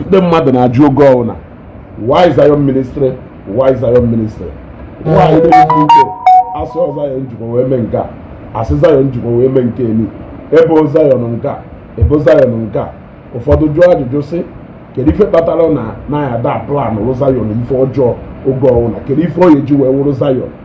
ndị mmadụ na-ajụ oge ọwụna why Zion ministry why Zion ministry why na e mee nke a asị Zion jikwa wee mee nke a asị Zion jikwa wee mee nke elu e bo Zion nke a e bo Zion nke a ụfọdụ jụọ ajụjụ sị kedu ife kpatara na a ya-ada planrụ Zion ife ọjọọ oge ọwụna kedu ife ọ ga-eji wee wụrụ Zion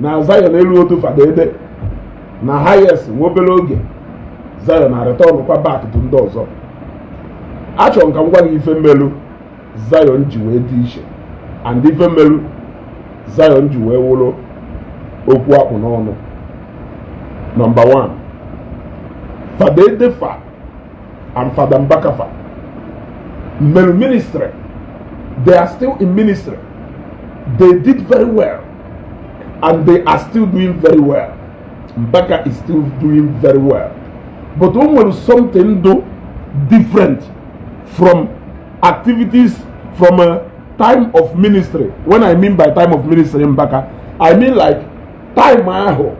na Zion eluho otu Fada Ede na highest nwa obere oge Zion a-return kwa back to ndị ọzọ achọrọ m ka m gwa gị ife melu Zion ji wee dị iche and ife melu Zion ji wee wụrụ okwu a kpụ n'ọnụ number 1 Fada Ede fa and Fada Mbaka fa melu ministry they are still in ministry they did very well and they are still doing very well Mbaka is still doing very well but o nwere something dụ different from activities from a time of ministry when i mean by time of ministry Mbaka i mean like time ahụ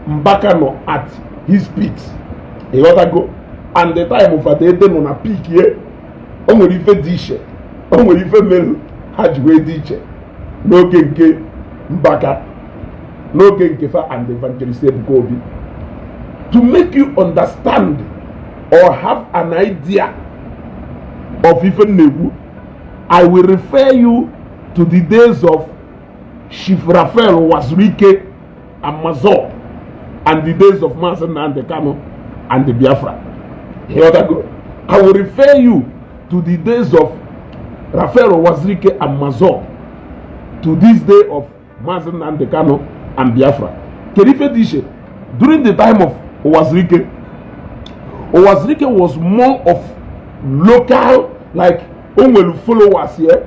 Mbaka nọ at his peak ị ghọtago and the time of Fada Ede nọ na peak ye o nwere ife dị iche o nwere ife melu ha ji wee dị iche n'oge nke Mbaka n'oge nke fa and evangelist Ebuka Obi to make you understand or have an idea of ife m na-ekwu I will refer you to the days of Chief Raphael Uwazuruike Amazon and the days of Mazi Nnamdi Kanu and the Biafra ịghọtago I will refer you to the days of Raphael Wazirike and Mazor to this day of Mazi Nnamdi Kanu and Biafra kedu ife dị iche during the time of Wazirike Wazirike was more of local like o nwere followers here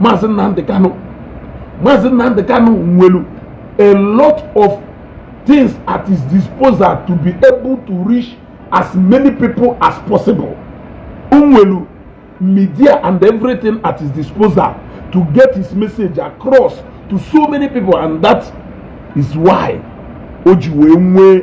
maazị Nnamdị Kanụ maazị Nnamdị Kanụ nwelu a lot of things at his disposal to be able to reach as many people as possible nwelu media and everything at his disposal to get his message across to so many people and that is why o ji wee nwee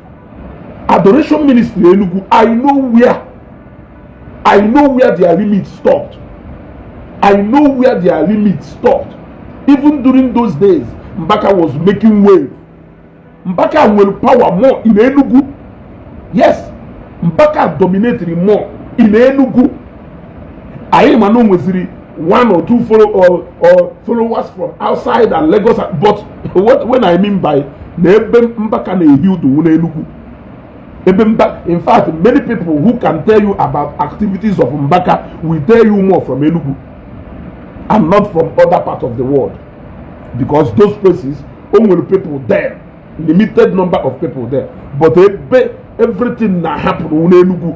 adoration ministry Enugu I know where I know where their limit stopped I know where their limit stopped even during those days Mbaka was making wave Mbaka nwere power more in Enugu yes Mbaka dominated more in Enugu anyị ma na o nweziri one or two follow or, or followers from outside and Lagos but what when I mean by na ebe mbaka na-ehi udu n'Enugu ebe mba in fact many people who can tell you about activities of mbaka will tell you more from Enugu and not from other parts of the world because those places only people there limited number of people there but ebe everything na happen n'Enugu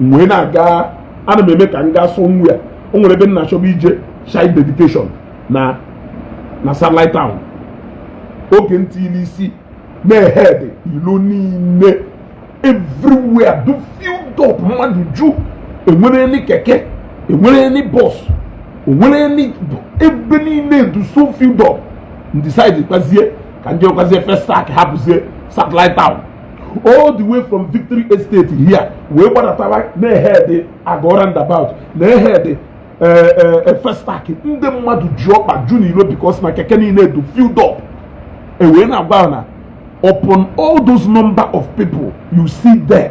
m wee na-aga ana m eme ka m gaa somewhere o nwere ebe m na-achọba ije child dedication na satellite town oge m tiili isi na-ehead ilo niile everywhere dụ filled up mmadụ ju enwere ni keke enwere ni bọs enwere ni ebe niile dụ so filled up m decide kwazie ka m jekwazie Festac hapụzie satellite town all the way from victory estate here wee gbadatawa na-ehead Ago roundabout na-ehead Festac eh, eh, ndị mmadụ ji ọkpa ju n'ilo because na keke niile dụ filled up ewee na-agwa na upon all those number of people you see there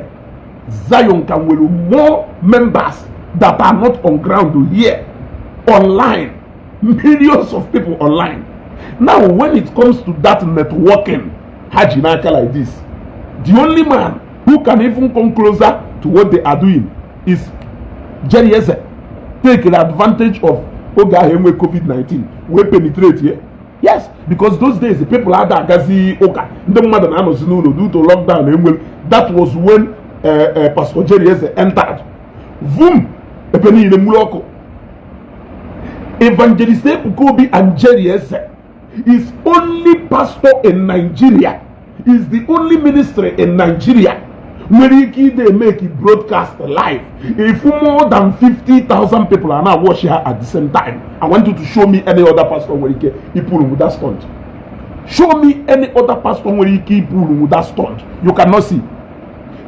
Zion ka nwere more members that are not on ground here online millions of people online now when it comes to that networking ha ji n'aka like this the only man who can even come closer to what they are doing is Jerry Eze takere advantage of oge ahụ enwe covid-19 wee penetratie yes because those days the people ada agazi ụka ndị mmadụ na-anọzi n'ụlọ due to lockdown e nwere that was when uh, uh, pastor Jerry Eze entered vum ebe niile nwuru ọkụ evangelist Ebuka Obi and Jerry Eze is only pastor in Nigeria is the only ministry in Nigeria nwere ike ide make broadcast live if more than 50,000 people are now watching her at the same time I want you to show me any other pastor nwere ike ipụrụ with that stunt show me any other pastor nwere ike ipụrụ with that stunt you cannot see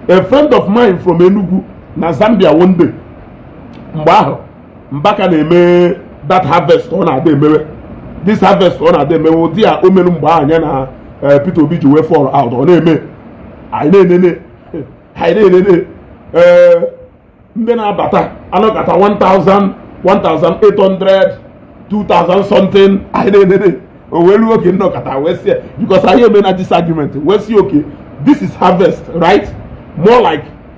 a friend of mine from Enugu na Zambia one day mgbe ahụ Mbaka na-eme that harvest ọ na-ada emewe this harvest ọ na-ada emewe ụdị a o mere mgbe ahụ nya na eh, Peter Obi ji wee fall out ọ na-eme anyị na-enene anyị na-enene eh, ndị na-abata anọkata 1000 1800 2000 something anyị na-enene o wee ruo oge m nọkata wee sị ya because anyị emena this argument wee sị okay this is harvest right more like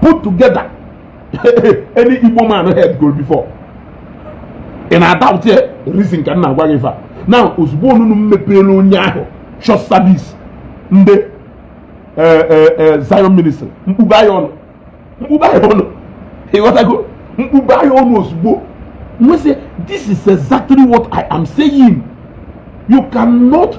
put together any Igbo man head go before ị na-adoubt ya reason ka m na-agwa gị ife a na ozugbo onunu m mepeere onye ahụ church service ndị eh, eh, eh, Zion ministry mkpu ba ya ọnụ mkpu ba ya ọnụ ị ghọtago mkpu ba ya ọnụ ozugbo m wee sị this is exactly what I am saying you cannot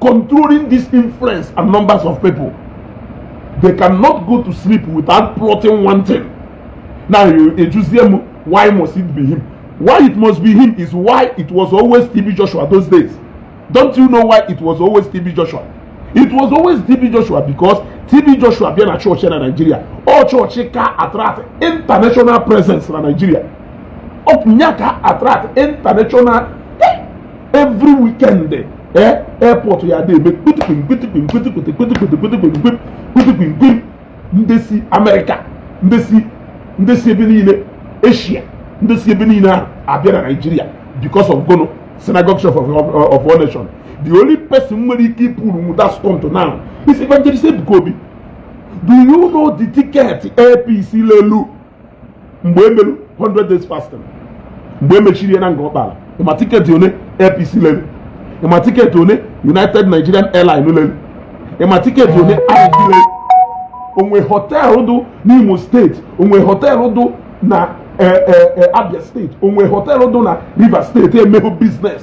controlling this influence and numbers of people they cannot go to sleep without plotting one thing now you ejuzie m why must it be him why it must be him is why it was always TB Joshua those days don't you know why it was always TB Joshua it was always TB Joshua because TB Joshua bịa na chọọchị na Nigeria ọ chọọchị ka attract international presence na Nigeria ọ nya ka attract international every weekend eh, airport ya dị eme kpitikwim kpitikwim kpitikwiti kpitikwiti kpitikwim kpitikwim kwim ndị si Amerịka ndị si ndị si ebe niile Eshia ndị si ebe niile na-abịa Naijiria because of gụnụ synagogue church of, of, of all nation the only person nwere ike ịpullnwu that stunt now is evangelist Ebuka Obi do you know the ticket Air Peace lelu mgbe e mere 100 days fasting mgbe e mechiri ya na Ngor Okpala ị ma tiketi one Air Peace lere ị ma tiketi one United Nigerian Airline lere ị ma tiketi one ig lere o nwe họteelụ dụ n'Imo steeti o nwe họteelụ dụ na eh, eh, eh, Abia steeti o nwe họteelụ dụ na Rivers steeti emehọ biznes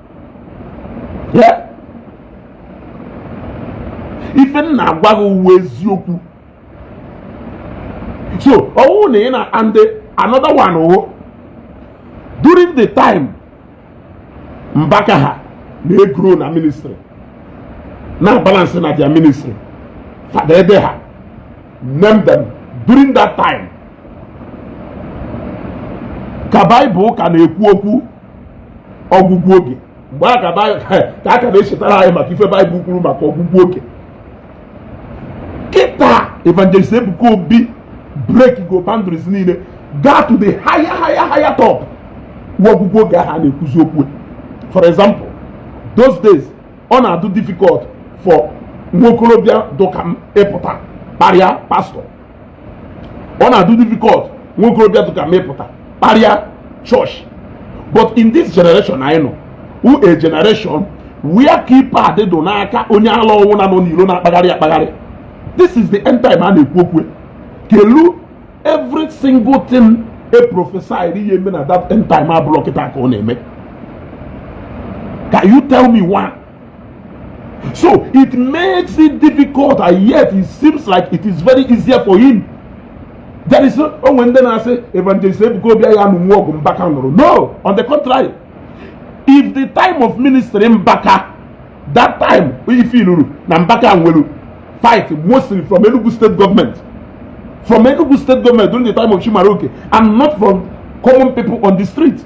ife m na-agwa gị wụ eziokwu so ọ wụ na ị na and another one wụ oh, during the time Mbaka ha na-egrow na ministry na-abalance na their ministry Fada Edeh ha name them during that time ka baịbụl ka na-ekwu okwu ọgwụgwụ oge mgbe a ka a ka na-echetara anyị maka ife baịbụl kwuru maka ọgwụgwụ oge kịta evangelist Ebuka Obi breakgo boundaries niile gaa to the higher higher higher top o nwe ọgwụgwụ oge ahụ a na-ekwuzi okwu ya for example those days ọ na-adụ difficult for nwa okorobịa dụka m ịpụta kparịa pastọ ọ na-adụ difficult nwa okorobịa dụka m pụta kparịa church but in this generation anyị nọ wụ a generation where keypad dụ n'aka onye ala ọ wụna nọ n'ilo na-akpagharị akpagharị this is the end time a na-ekwu okwu kelu every single thing e prophesy-rị ya-eme na that end time abụrụ kịta ka ọ na-eme can you tell me why So it makes it difficult and yet it seems like it is very easier for him. There is no o nwe ndị na-asị evangelist Ebuka Obi ya-anụnwu ọgụ Mbaka nụrụ. No, on the contrary, if the time of ministry Mbaka that time ị fụrụ na Mbaka nwelu fight mostly from Enugu state government from Enugu state government during the time of Chimaroke and not from common people on the street.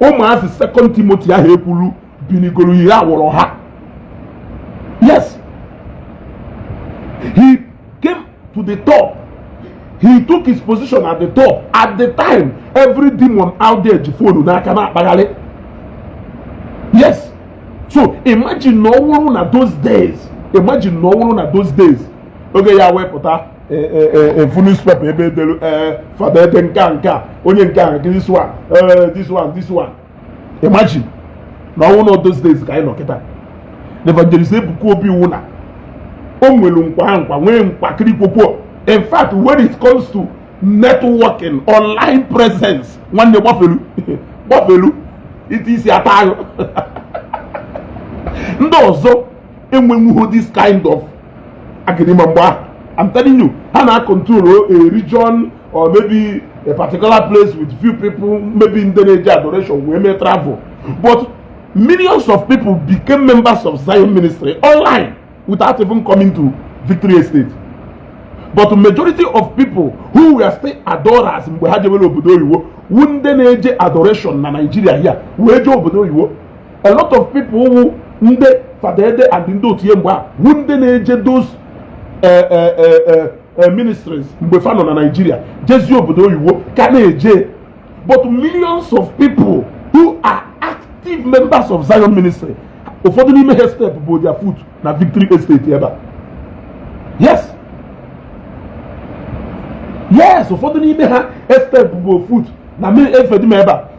ụmụazị Second Timothy ahụ e kwuru binigoro ihe a wụrụ ha yes he came to the top he took his position at the top at the time every demon out there ji fonu n'aka na-akpagharị yes so imagine na ọ wụrụ na those days imagine na ọ wụrụ na those days oge ya wepụta e, e, e, a full newspaper ebe e delu Father Edeh nke a nke a onye nke a this one this one this one imagine na ọ wụ na those days ka anyị nọ kịta na evangelist Ebuka Obi wụ na o nwere nkwa nkwa nwee nkwa kirikwokwuo in fact when it comes to networking online presence nwanne gbafelu gbafelu ite isi ata ahụ ndị ọzọ enwenwuho this kind of algorithm mgbe ahụ I'm telling you ha na control a region or maybe a particular place with few people maybe ndị na-eje adoration wee mee travel but millions of people became members of Zion ministry online without even coming to Victory Estate but majority of people who were still adorers mgbe ha jebere obodo oyibo wụ ndị na-eje adoration na Nigeria here wee jee obodo oyibo a lot of people wụ ndị Father Edeh and ndị otu ya mgbe a wụ ndị na-eje those eh, eh, eh, ministries mgbe fa nọ na Nigeria jezie obodo oyibo ka na-eje but millions of people who are active members of Zion ministry ụfọdụ n'ime ha estepụbọ their foot na Victory Estate ebe a yes yes ụfọdụ n'ime ha stepụbọ foot na mmiri efedima ebe a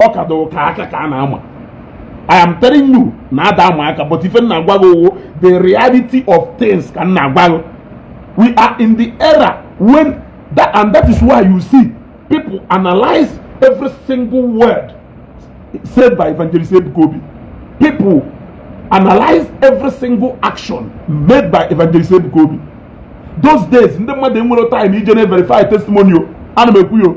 ọ ka dọrọ ka aka ka a na-ama I am telling you na ada ama aka but ife m na-agwa gị ọ wụ the reality of things ka m na-agwa gị we are in the era when that and that is why you see people analyze every single word said by evangelist Ebuka Obi people analyze every single action made by evangelist Ebuka Obi those days ndị mmadụ enwere time ije na-everify testimony ana m ekwu yo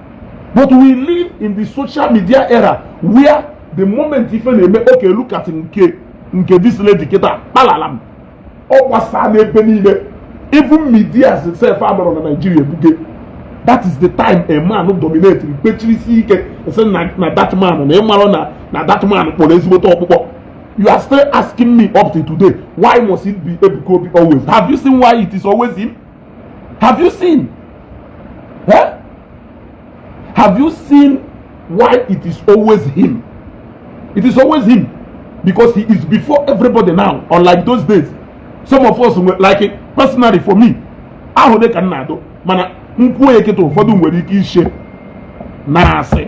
but we live in the social media era where the moment ife na-eme okay look at nke nke this lady kịta kpalalam ọ gbasaa n'ebe niile even media sef agbọrọ na Nigeria ebuge that is the time a man dominate kpechiri isi ike sị na that man na ị mara na na that man kpọrọ ezigbote ọkpụkpọ you are still asking me up to today why must it be Ebuka Obi always have you seen why it is always him Have you seen? Huh? Have you seen why it is always him? It is always him because he is before everybody now, unlike those days. Some of us we like it personally for me. ahụ dị ka nna adụ mana m kwuo ya kịta ụfọdụ nwere ike ishe na asị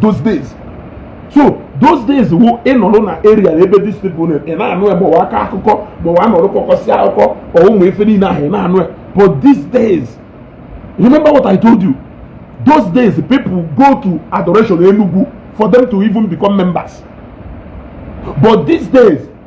those days so those days wụ ị nọrọ na area ebe these people nọ ị na-anụ ya gbawa aka akụkọ gbawa nọrọ kọkọsị akụkọ ọ ụmụ ife niile ahụ ị na-anụ ya but these days remember what i told you those days people go to adoration enugu for them to even become members but these days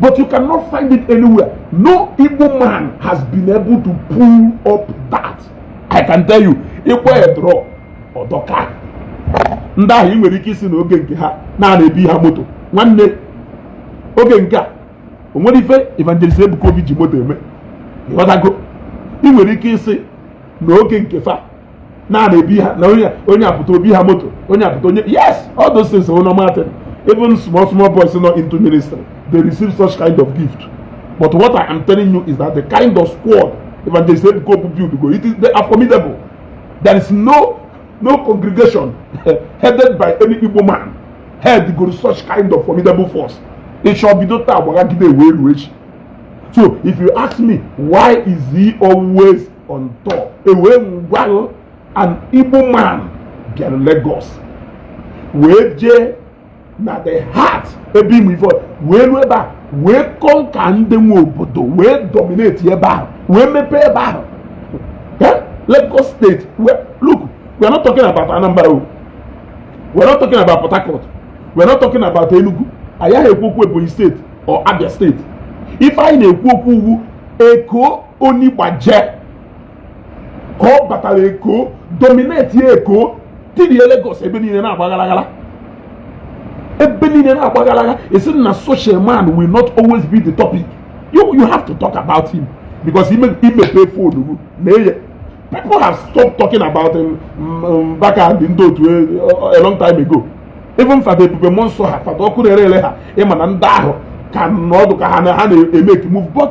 But you cannot find it anywhere. No Igbo man has been able to pull up that. I can tell you, ịkwa ya drọ ọ dọ ka ndị ahụ ị nwere ike ịsị na oge nke ha na a na-ebi ha moto nwanne oge nke a o nwere ife evangelist Ebuka Obi ji moto eme ịghọtago ị nwere ike ịsị na oge nke fa na-ana ebi ha na onye onye apụta obi ha moto onye apụta onye yes all those things are normal thing even small small boys not into ministry they receive such kind of gift but what i am telling you is that the kind of squad evangelist ebuka obu build go it is they are formidable there is no no congregation headed by any igbo man head go such kind of formidable force it shall be dota agbagagide ewe elu echi so if you ask me why is he always on top ewee ngwanụ an Igbo man bịara Lagos wee jee na the heart ebe ime ife wee ruo ebe a wee conquer ndị nwe obodo wee dominate ebe ahụ wee mepee ebe ahụ eh? Lagos state look we are not talking about Anambra o we are not talking about Port Harcourt we are not talking about Enugu anyị aha ekwu okwu Ebonyi state or Abia state ife anyị na-ekwu okwu wụ Eko o ni baje ka ọ batara Eko dominate Eko tirie Lagos ebe niile na-agba gharaghara ebe niile na-agba gharaghara ị sị na such a man will not always be the topic you, you have to talk about him because i mepe phone na eye people have stopped talking about him um, um, Mbaka the ndị otu eh, a long time ago even fada ebube mmụọ nsọ ha fada ọkụ na-ere ere ha ị ma na ndị ahụ ka nọ ọdụ ka ha na-emake move but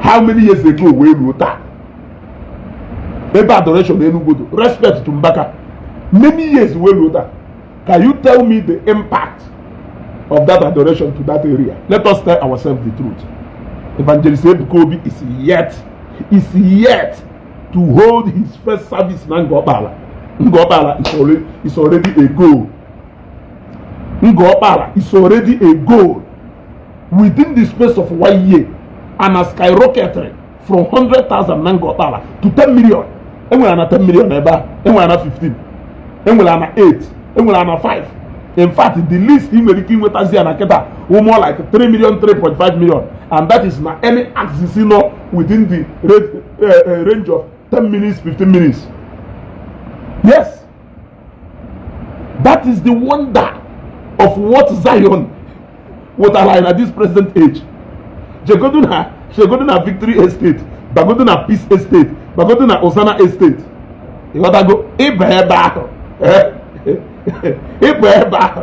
how many years ago wee ruo taa ebe adoration Enugu do respect to Mbaka many years wee ruo taa can you tell me the impact of that adoration to that area let us tell ourselves the truth evangelist Ebuka Obi is yet is yet to hold his first service na Ngobala Ngobala is already is already a goal Ngor Okpala is already a goal within the space of one year ana skyrocketiri from 100,000 na Ngor Okpala to 10 million. Enwere ana 10 million ebe a, enwere ana 15, enwere ana 8, enwere ana 5. In fact, the least ị nwere ike inwetazi ana kịta wụ more like 3 million, 3.5 million and that is na any axis nọ within the eh, eh, range of 10 minutes, 15 minutes. Yes. that is the wonder of what Zion wetara anyị na this present age jegodu na jegodu na victory estate bagodu na peace estate bagodu na Hosanna estate ịghọtago ịba ebe ahụ ịba ebe ahụ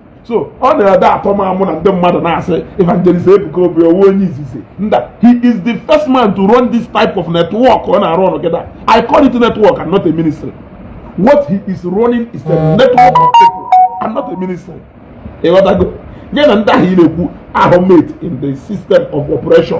so ọ na-adị atọ m amụ na ndị mmadụ na-asị evangelist Ebuka Obi ọ wụ onye izizi nda he is the first man to run this type of network ọ na-arun kịta I call it network and not a ministry what he is running is a network of people and not a ministry ịghọtago nya na ndị ahụ ị na-ekwu ahụ mate in the system of operation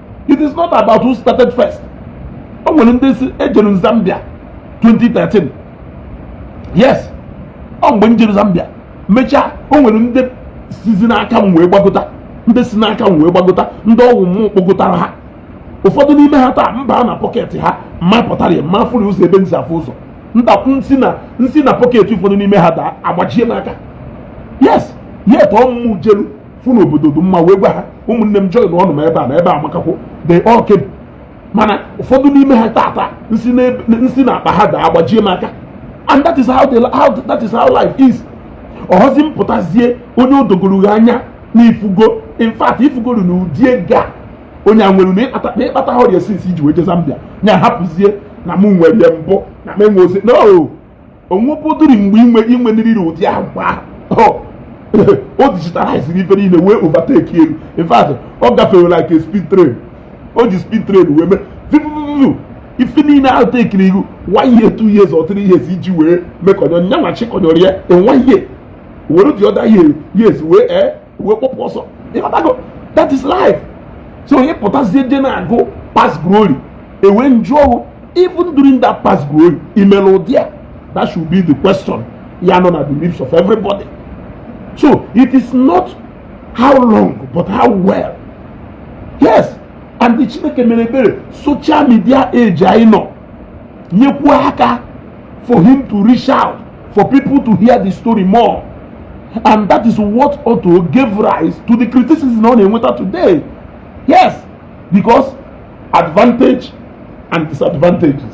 it is not about who started first o nwere ndị si ejere Zambia 2013 yes ọ mgbe m jere Zambia mechaa o nwere ndị sizi n'aka m wee gbagota ndị si n'aka m wee gbagota ndị ọ wụ m kpọgotara ha ụfọdụ n'ime ha taa m baa na pọketị ha ma pụtara ya ma fụrụ ụzọ ebe m si afụ ụzọ m si na m si na pọketị ụfọdụ n'ime ha daa agbajie m aka yes yet ọ mụ jelu fụ na obodo dị mma wee gwa ha ụmụnne m joinnụ m ebe a na ebe a amakakwọ they all came mana ụfọdụ n'ime ha tata m si na akpa ha daa agbajie m aka and that is how the how that is how life is ọhọzi m pụtazie onye o dogoro gị anya na ifugo in fact ifugoro na ụdị ego a onye a nwere na ị kpatahọ ya since iji wee je Zambia nya ahapụzie na mụ nwere mbụ na m enwehọzi no onwepụdụri mgbe inwe inwe nriri ụdị agwa o digitaliziri ife niile wee overtake elu in fact ọ gafere like a speed train o ji speed train wee mee viviviviv ife niile ahụ takiri gị one year two years or three years iji wee mekọnyọ nyanwa chịkọnyọrọ ya in one year were the other year years wee ee eh, wee kpọpụ ọsọ ịmatago that is life so onye pụtazie je na-agụ past glory e wee jụọ gị even during that past glory i mere ụdị a that should be the question ya nọ na the lips of everybody so it is not how long but how well yes and Chineke mere ebere social media age anyị nọ nyekwuo aka for him to reach out for people to hear the story more and that is what ought to give rise to the criticism ọ na-enweta today yes because advantage and disadvantages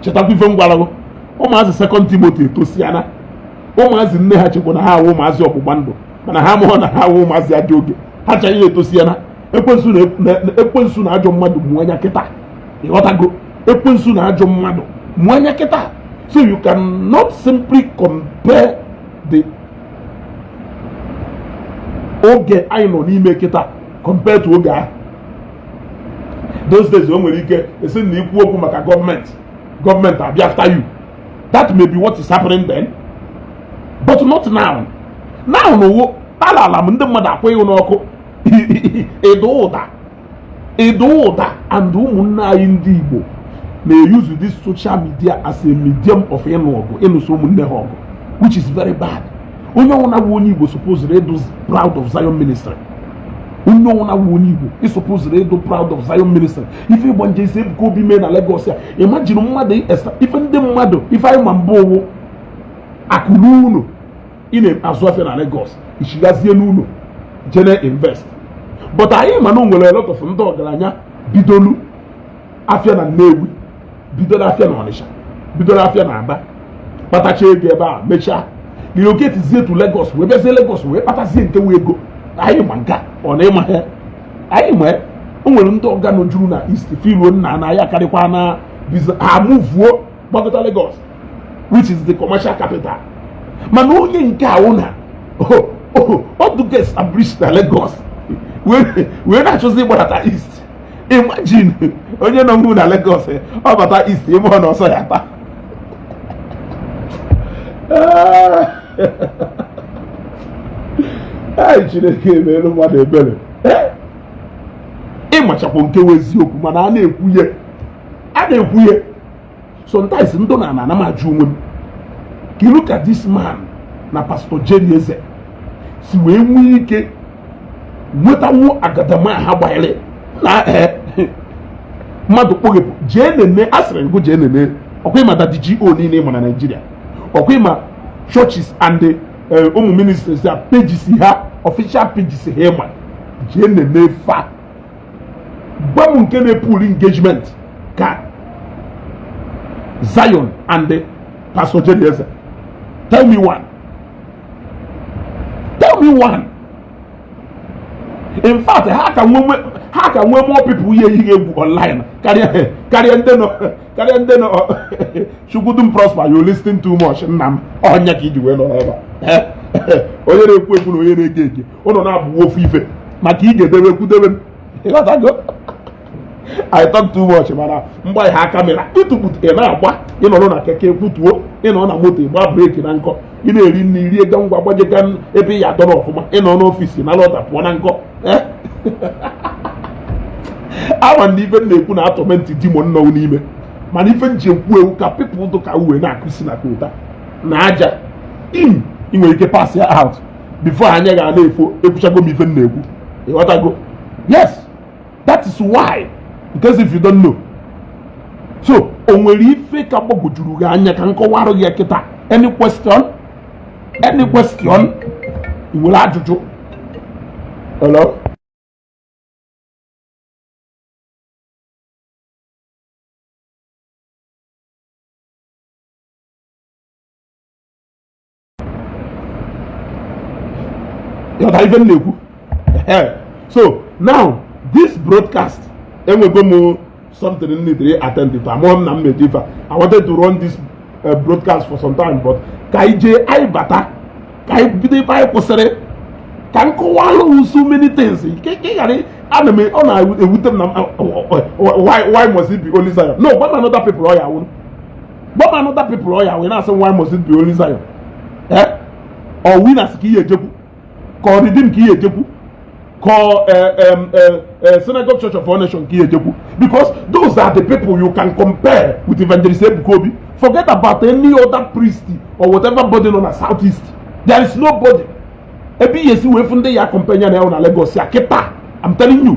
chetakwa ife m gwara gụ ụmụazị second Timothy etosiana ụmụazị nne ha chekwa na ha wụ ụmụazị ọgbụgba ndụ mana ha amaghọ na ha wụ ụmụazị ajọ oge ha ncha etosiana ekwensu na ajọ mmadụ mụ anya kịta ị ghọtago ekwensu na ajọ mmadụ mụ anya kịta so you can not simply compare the oge anyị nọ n'ime kịta compare to oge ahụ those days o nwere ike a sị na i kwuo okwu maka government government abịa after you that may be what is happening then but not now now na owo ala ala m ndị mmadụ akwụghị n'ọkụ ịda ụda ịda ụda and ụmụnne anyị ndị Igbo na-euse this social media as a medium of ịnụ ọgụ ịnụso ụmụnne ha ọgụ which is very bad onye ọwụna bụ onye Igbo supposed ịdụ proud of Zion ministry onye ọwụna bụ onye Igbo ị supposed ịdụ proud of Zion ministry ife Evangelist Ebuka Obi mee na Lagos ya imagine mmadụ ife ndị mmadụ ife anyị ma mbụ wụ akụ rue ụnọ ị na-azụ afịa na Lagos i chighazie n'ụnọ jene invest but anyị ma na nwere lot of ndị ọgaranya bidolu afịa na Nnewi bidoro afịa na Ọnịcha bidoro afịa na Aba kpatacha ego ebe a mechaa relocatezie to Lagos wee bịazie Lagos wee kpatazie nke wụ ego anyị ma nka ọ na ịma ha anyị ma o nwere ndị ọga nọjuru na East feeluo nna na ya akarịkwana ha movuo gbagota Lagos which is the commercial capital mana onye nke a wụ na ọ dụgo establish na Lagos wee na-achọzi ịgbadata east imagine onye nọwu na Lagos eh, ọ bata east ebe ọ na ọsọ ya taa ai Chineke emeelu mmadụ ebere eh? ị machakwa nke wụ eziokwu mana a na-ekwu ya a na-ekwu ya sometimes ndụ na ana m ajụ onwe m kelu ka this man na Pastor Jerry Eze si wee nwee ike nwetanwu agadama ha gbanyere na eh, mmadụ kpọghepụ jee nene asịrị m gụ jee nene ọkwa ị ma Daddy GO niile ị ma na Nigeria ọkwa ị ma churches and eh, ụmụ ministries a pages ha official pages ha ị ma jee nene fa gwa m nke na-epull engagement ka Zion and Pastor Jerry Eze tell me one tell me one in fact ha ka nwe ha ka nwe more people ihe ihe egwu online karịa karịa ndị nọ karịa ndị nọ chukwudum prosper you listen too much nna m ọ nya ka iji wee nọ n'ebe a onye na-ekwu ekwu na onye na-ege ege ụnụ naabọ wụ ofu ife maka i gedebe kwudebe I talk too much mana mgbe anyị ha camera ịtụpụta ị na-agba ị nọrọ na keke kwụtuo ị nọ na moto ị gba brake na nkọ ị na-eri nri rie ga ngwa gbajega ebe ị ya adọrọ ọfụma ị nọ n'office na lọta pụọ na nkọ eh? ama m na ife m na-ekwu na-atorment demon nọ n'ime mana ife m ji ekwu e wụ ka people dụ ka uwe na-akụ isi na kota na aja mm ị nwere ike pass ya out before anya ga na-efo ekwuchago m ife m na-ekwu ị ghọtago yes that is why because if you don't know so o nwere ife ka gbagwojuru gị anya ka m kọwarụ gị kịta any question any question ị nwere ajụjụ hello ị ghọta ife m na-ekwu so now this broadcast enwego m something m need attend to amụọ m na m meji ife I wanted to run this uh, broadcast for some time but ka anyị jee anyị bata ka anyị bido ebe anyị kwụsịrị ka m kọwalụ so many things ka ị ghara ana m ọ na-ewute m na why must it be only Zion no gwa m another people ọ ya-awụrụ gwa m another people ọ ya wee na-asị why must it be only Zion eh ọ Winners ka i je-ekwu ka ọ Redeem ka i je-ekwu ka eh, um, eh, eh, Synagogue Church of All Nation ka i je-ekwu because those are the people you can compare with evangelist Ebuka Obi forget about any other priest or whatever body nọ na south east there is nobody ebe i ye-esi wee fụ ndị ya compare ya na Lagos a kịta I'm telling you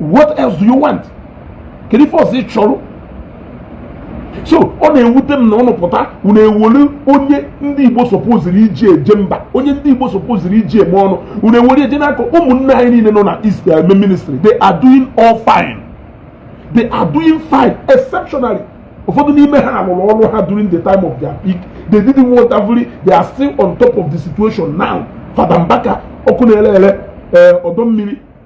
what else do you want kedu ife ọzọ ị chọrọ so ọ na-ewute m na ụnụ pụta unu ewere onye ndị Igbo supposiri iji eje mba onye ndị Igbo supposiri iji eme ọnụ unu ewere eje n'aka ụmụnne anyị niile nọ na east eme eh, ministry they are doing all fine they are doing fine exceptionally ụfọdụ n'ime ha rụrụ ọrụ ha during the time of their peak they did wonderfully they are still on top of the situation now Fada Mbaka ọkụ na-ere ere eh, ọdọ mmiri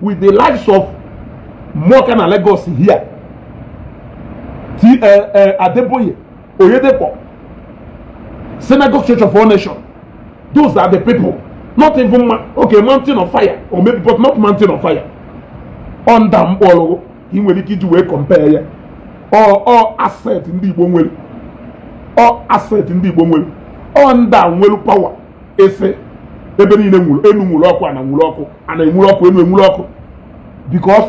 with the likes of Muoka na Lagos here T uh, eh, uh, eh, Adeboye Oyedepo Synagogue Church of All Nations those are the people not even ma okay mountain of fire or maybe but not mountain of fire ọ ndị a m kpọọrọ gị ka ị nwere ike iji wee compare ya ọ ọ asset ndị Igbo nwere ọ asset ndị Igbo nwere ọ ndị a nwere power ị sị ebe niile nwuru enu nwuru ọkụ ana nwuru ọkụ ana enwuru ọkụ enu enwuru ọkụ because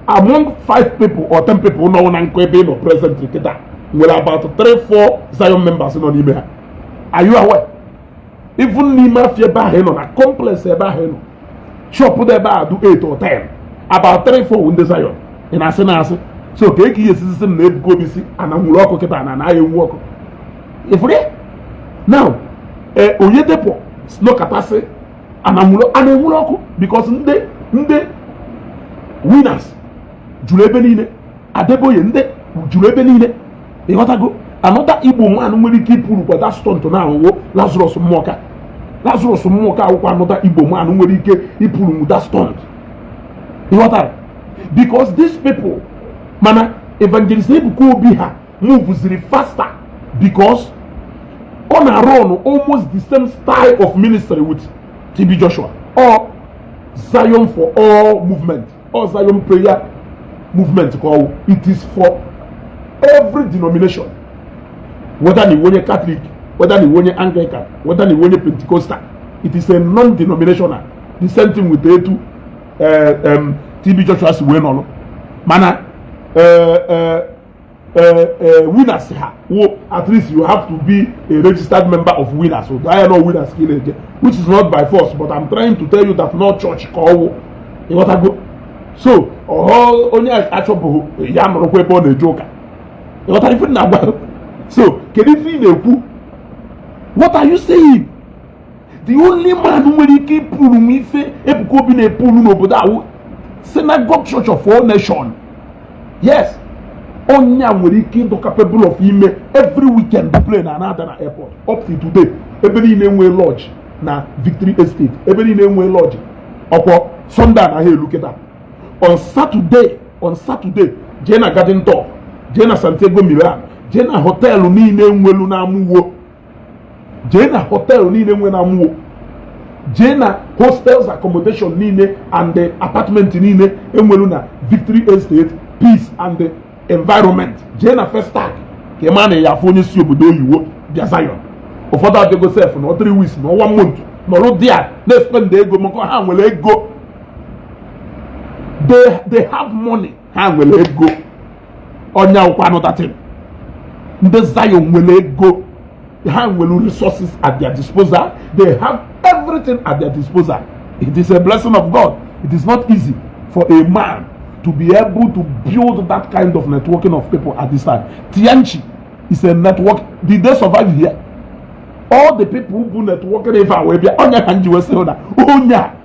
among five people or ten people nọ n'akụkụ ebe ị nọ present kịta nwere about three four Zion members nọ n'ime ha are you aware even n'ime afia ebe ahụ ị nọ na complex ebe ahụ ị nọ shop dị ebe a dị eight or ten about three four ndị Zion ị na-asị na-asị so kee ka ị ya-esi sị m na Ebuka Obi sị ana nwuru ọkụ kịta na anaghị enwu ọkụ ị fụrụ now eh, Oyedepo nọkata sị ana nwuru ọkụ because ndị ndị winners juru ebe niile Adeboye ndị juru ebe niile ị ghọtago another Igbo man nwere ike ịpull kwa that stunt now wụ Lazarus Muoka Lazarus Muoka wụkwa another Igbo man nwere ike ịpull nwu that stunt ị ghọtara because these people mana evangelist Ebuka Obi ha move ziri faster because ọ na-arun almost the same style of ministry with TB Joshua or Zion for all movement or Zion prayer movement ka ọ wụ it is for every denomination whether na ị wụ onye Catholic whether na ị wụ onye Anglican whether na ị wụ onye Pentecostal it is a non-denominational the same thing with etu eh, TB Joshua si wee nọrọ mana eh, eh, Eh, eh, winners ha wụ at least you have to be a registered member of winners so I know winners ka ị na-eje which is not by force but I'm trying to tell you that na ọ church ka ọ wụ ị ghọtago so ọ wụ onye achọghị eh, ya nọrọkwa ebe ọ na-eje ụka ị ghọtara ife m na-agwa so kedu ife ị na-ekwu what are you saying the only man nwere ike ịpull nwu ife Ebuka Obi na-epull n'obodo a wụ synagogue church of all nation yes onye a nwere ike ịdị capable of ime every weekend plane ana-ada na airport up to today ebe niile e nwere lodge na victory estate ebe niile e nwere lodge ọkwa sunday anaghị elu kịta on saturday on saturday jee na garden top jee na santiago milan jee na hotel niile e nwelu na Amuwo jee na hotel niile e nwe na Amuwo jee na hostels accommodation niile and the apartment niile e nwere na Victory Estate peace and the environment jee na Festac ka ị ma na ị ya-afụ onye si obodo oyiwo bịa Zion ụfọdụ abịago sef nọọ three weeks nọọ one month nọrụ there na-espend ego maka ha nwere ego they have money ha nwere ego ọnya wụkwa another thing ndị Zion nwere ego ha nwere resources at their disposal they have everything at their disposal it is a blessing of God it is not easy for a man to be able to build that kind of networking of people at this time Tianshi is a network did they survive here all the people bu networking ebe a wee bịa ọnya ka m ji wee sị na onye a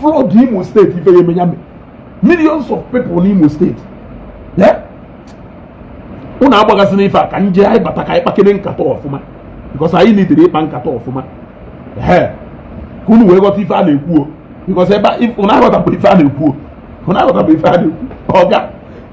flood Imo State ife ya-eme ya millions of people n'Imo State ụnụ agbaghazina ife a ka nje anyị bata ka anyị kpakene nkata ọfụma because anyị needịrị ịkpa nkata ọfụma ee ka unu wee ghọta ife a na-ekwuo because ebe ụnụ aghọtabụ ife a na-ekwuo ụnụ aghọtabụ ife a na-ekwu ọ ga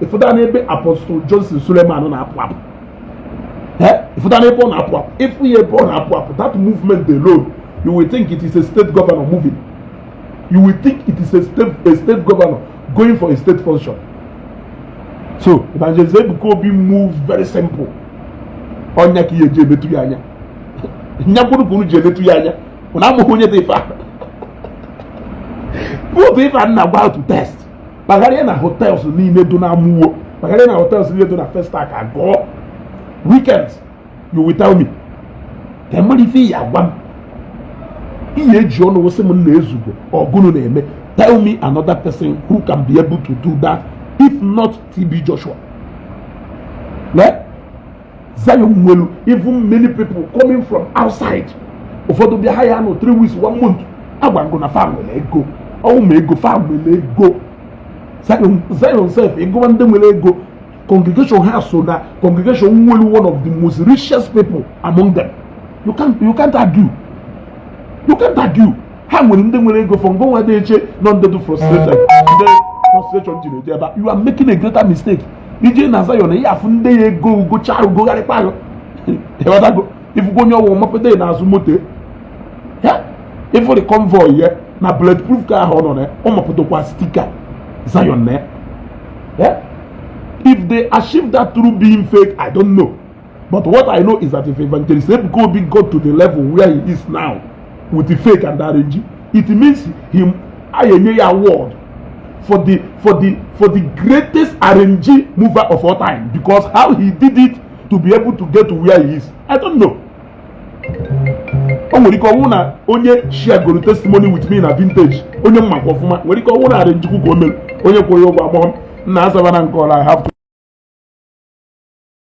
ị fụta n'ebe Apostle Johnson Suleman na-apụ apụ ị fụta n'ebe ọ na-apụ apụ ị fụ ya ebe ọ na-apụ apụ that movement alone you will think it is a state governor moving you will think it is a state governor going for a state function so evangelist Ebuka Obi move very simple ọnya ka ị ya-eji emetụ ya anya nyakwuru ka unu ji emetụ ya anya unu amaghị onye dị ife ahụ bụ otu ife a nna gwa to test kpagharịa na hotels niile dụ na Amuwo kpagharịa na hotels niile dụ na Festac Ago weekend you will tell me ka m mara ife ị ya-agwa m ị ya-eji ọnụ wee sị m nna ezugo ọ gụnụ na-eme tell me another person who can be able to do that if not TB Joshua. Eh? Zion nwelu even many people coming from outside ụfọdụ bịa ha ya-anọ three weeks one month agwago na fa nwere ego ọ wụ ma ego fa nwere ego Zion sef ị gụwa ndị nwere ego congregation ha so na congregation nwelu one of the most richest people among them you can't argue you can't argue ha nwere ndị nwere ego if ngị nwa dị eche na ọ ndị dị frustration ndị frustration jiri eje ebe you are making a greater mistake i jee na Zion ị ya-afụ ndị ya ego ugocha arụ gogharịkpa arụ ị wọtago ị fụgo onye ọ wụ mapado ya n'azụ moto ị fụrụ convoy ya na bulletproof car ahụ ọ nọ na ya ọ mapadokwa sticker Zion na ya if they achieve that through being fake I don't know But what I know is that if Evangelist Ebuka Obi got to the level where he is now with the fake and arrangee, it means m ya-enye ya award for the for the for the greatest arrangee mover of all time because how he did it to be able to get to where he is I don't know. o nwere ike ọ wụ na onye sharegoro testimony with me na vintage onye m makwa ọfụma nwere ike ọ wụ na arrangee kwa ka o mere onye kwụrụ ụgwọ agbọghọ na Asaba na nke ọla I have to